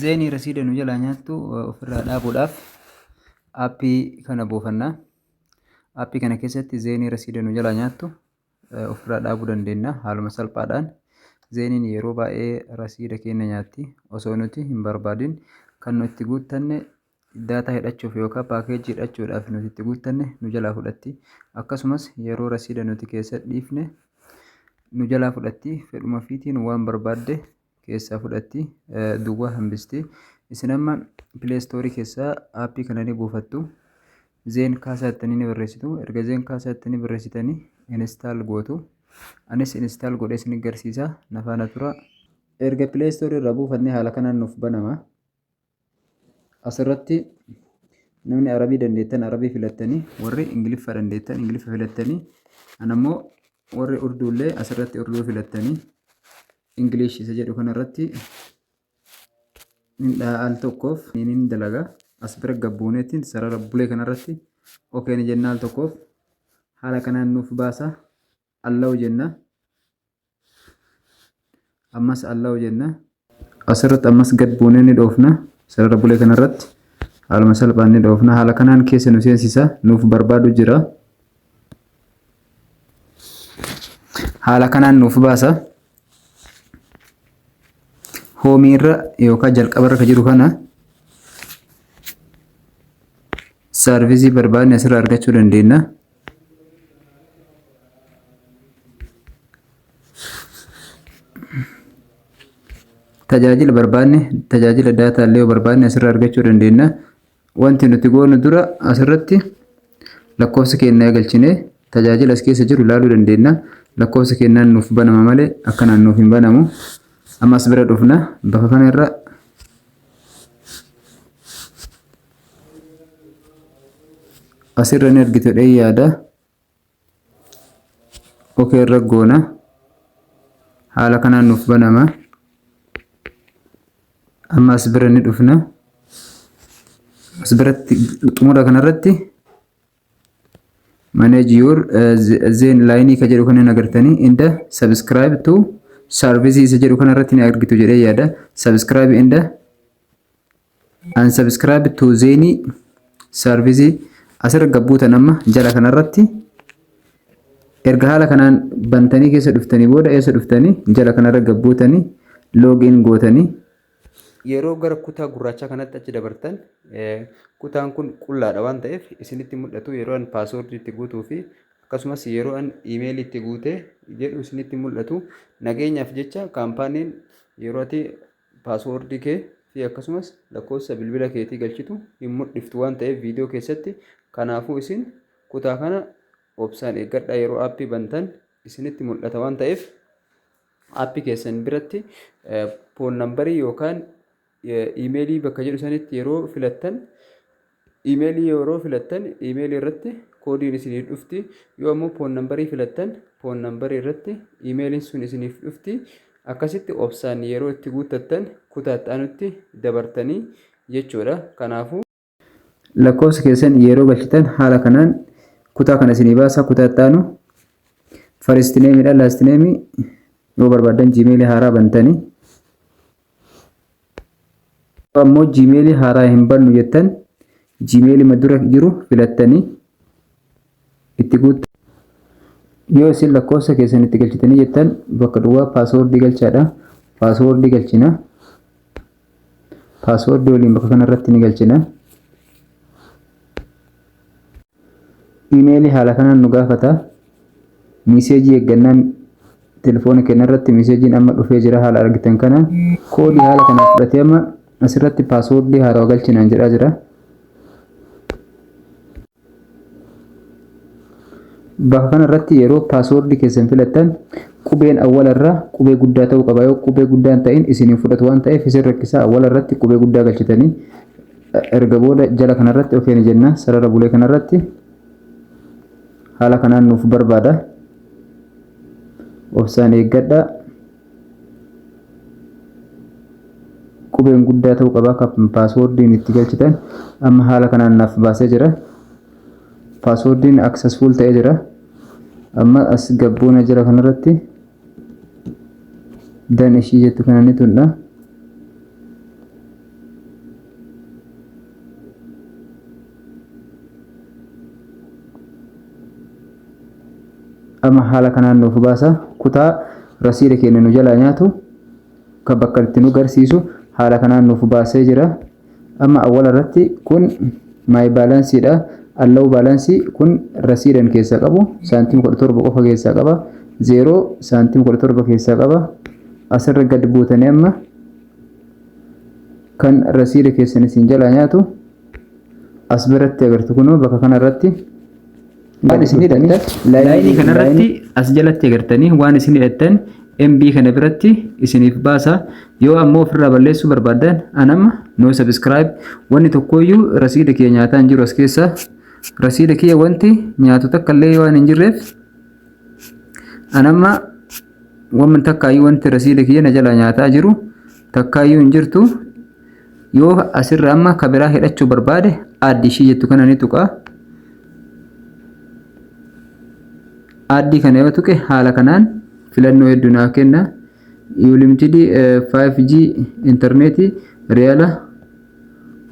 Zeenii rasiida nu jalaa nyaattu ofirraa dhaabuudhaaf aappii kana buufanna. Aappii kana keessatti zeenii rasiida nu jalaa nyaattu ofirraa dhaabuu dandeenya haaluma salphaadhaan. Zeeniin yeroo baay'ee rasiida keenya nyaatti osoo nuti hin barbaadin kan nu itti guuttanne daataa hidhachuuf yookaan paakeejii hidhachuudhaaf nuti itti guuttanne nu jalaa fudhatti. Akkasumas yeroo rasiida nuti keessa dhiifne nu jalaa fudhatti fedhuma fiitiin waan barbaadde keessaa fudhatti duwwaa hambisti isin amma pileestoorii keessaa aappii kana ni buufattu zeen kaasaa ittanii ni barreessitu erga zeen kaasaa ittanii barreessitanii instaal gootu anis instaal godhee isin garsiisa nafaana tura erga pileestoorii irraa buufannee haala kanaan nuuf banama asirratti namni arabii dandeettan arabii filattanii warri ingiliffa dandeettan ingiliffa filattanii anammoo warri urduullee asirratti urduu filattanii ingilish isa jedhu kanarratti hin dhaha al tokkoof niin dalaga as bira gabbuuneetiin sarara bulee kanarratti okeen jennaa al tokkoof haala kanaan nuuf baasa Allow jenna. Ammas allow jenna. Asirratti ammas gad buunee ni dhoofna. Sarara bulee kanarratti haaluma salphaan ni dhoofna. Haala kanaan keessa nu seensisa. Nuuf barbaadu jira. Haala kanaan nuuf baasa. Hoomii irra yookaan jalqaba irra kan jiru kana saarvisii barbaadne asirraa argachuu dandeenya. tajaajila barbaanne tajaajila daataa illee barbaanne asirra argachuu dandeenya. Wanti nuti goonu dura asirratti lakkoofsa keenya galchine tajaajila as keessa jiru ilaaluu dandeenya. Lakkoofsa keenyaan nuuf banama malee akkanaan nuuf hin banamu. Ammas bira dhufna bakka kanarra asirra ni argitu jedhee yaada ok irra goona haala kanaan nuuf banama amma as bira ni dhufna as biratti xumura kanarratti manage your uh, zen line ka jedhu kana agartanii inda subscribe to services jedhu kanarratti ni argitu jedhee yaada subscribe inda Unsubscribe to Zeni service asirra gabbuutan amma jala kanarratti erga haala kanaan bantanii keessa dhuftanii booda eessa dhuftanii jala kanarra gabbuutanii login gootanii yeroo gara kutaa gurraachaa kanatti achi dabartan kutaan kun qullaadha waan ta'eef isinitti mul'atu yeroo an paaswoordii itti guutuu fi akkasumas yeroo an iimeelii itti guute jedhu isinitti mul'atu nageenyaaf jecha kaampaaniin yeroo ati Password kee fi akkasumas lakkoofsa bilbila keetii galchitu hin mudhiftu waan ta'eef viidiyoo keessatti kanaafuu isin kutaa kana obsaan eeggadhaa yeroo aappii bantan isinitti mul'ata waan ta'eef aappii keessan biratti foon nambarii yookaan iimeelii bakka jedhu sanitti yeroo filattan Iimeelii yeroo filattan iimeelii irratti koodiin isiniif dhufti. Yoo ammoo poon nambarii filattan poon nambarii irratti iimeeliin sun isiniif dhufti. Akkasitti obsaan yeroo itti guuttattan kutaa itti aanutti dabartanii jechuudha. Kanaafuu lakkoofsa keessan yeroo galchitan haala kanaan kutaa kana isinii baasa kutaa itti aanu faristineemiidha laastineemii yoo barbaaddan jiimeelii haaraa bantanii ammoo jiimeelii haaraa hin bannu jettan jiimeelima dura jiru filattanii itti guutta yoo isin lakkoofsa keessan itti galchitanii jettan bakka duwwaa paaswoordii galchaadha paaswoordii galchina paaswoordii waliin bakka kanarratti ni galchina. Imeelii haala kanaan nu gaafata. Miiseejii eeggannaan telefoona keenya irratti miiseejiin amma dhufee jira haala argitan kana. Koodii haala kanaan fudhatee amma asirratti paaswoordii haarawa galchinaan jedhaa jira. Bakka kanarratti yeroo paaswoordii keessan filattan qubeen awwalarraa qubee guddaa ta'uu qaba. Yoo qubee guddaan ta'in isin hin fudhatu waan ta'eef isin rakkisaa awwalarratti qubee guddaa galchitanii Erga booda jala kanarratti okee ni jenna sarara bulee kanarratti haala kanaan nuuf barbaada obsaan eeggadha qubeen guddaa ta'uu qaba akka paaswoordiin itti galchitan amma haala kanaan naaf baasee jira paaswoordiin aksesfuul ta'ee jira amma as gabboona jala kanarratti dan ishii jettu kana ni tuqna amma haala kanaan nuuf baasa kutaa rasiida keenya nu jalaa nyaatu kan bakka itti nu garsiisu haala kanaan nuuf baasee jira. Amma awwala irratti kun my balance dha. Allow balance kun rasiidan keessaa qabu saantima 17 qofa keessaa qaba. 0 saantima 17 keessaa qaba. Asirra gad buutanii amma kan rasiida keessan isin jalaa nyaatu as biratti agartu kunoo bakka kanarratti Waan isin hidhattan laayinii kanarratti as jalatti agartanii waan isin hidhattan MB kana biratti isiniif baasa. Yoo ammoo ofirraa balleessuu barbaaddan anamma no subscribe wanni tokkooyyuu rasiida kiyya nyaataa hin jiru as keessa. Rasiida kiyya wanti nyaatu takka illee waan hin jirreef anamma wamman takkaayyuu wanti rasiida kiyya na jalaa nyaataa jiru takkaayyuu hin jirtu. Yoo asirra amma ka biraa hidhachuu barbaade aaddi ishii jettu kana ni tuqa. Aaddii kana yoo tuqe haala kanaan filannoo hedduu naa kenna. Unlimited 5G intarneetii reela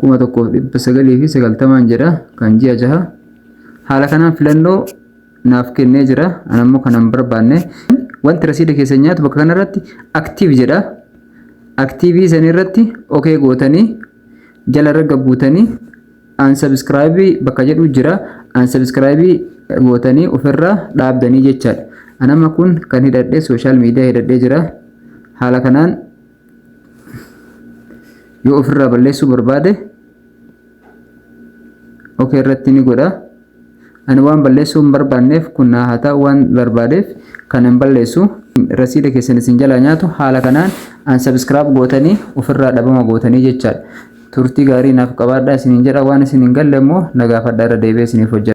1990 jedha kan ji'a jaha. Haala kanaan filannoo naaf kennee jira an ammoo kana hin barbaanne wanti rasiida keessan nyaatu bakka kanarratti aktiiv jedha aktiivii san irratti okee gootanii jala ragga buutanii an sabiskiraayibii bakka jedhu jira an sabiskiraayibii gootanii ofirraa dhaabdanii jechaadha anama kun kan hidhadhe sooshaal miidiyaa hidhadhee jira haala kanaan yoo ofirraa balleessuu barbaade ok irratti ni godha ani waan balleessuu hin barbaanneef kun naa haa ta'u waan barbaadeef kan hin balleessu rasiida keessan isin jalaa nyaatu haala kanaan an sabiskiraab gootanii ofirraa dhabama gootanii jechaadha turtii gaarii naaf qabaadha isin hin jedha waan isin hin galle immoo na gaafadha irra deebi'ee isiniif hojjedha.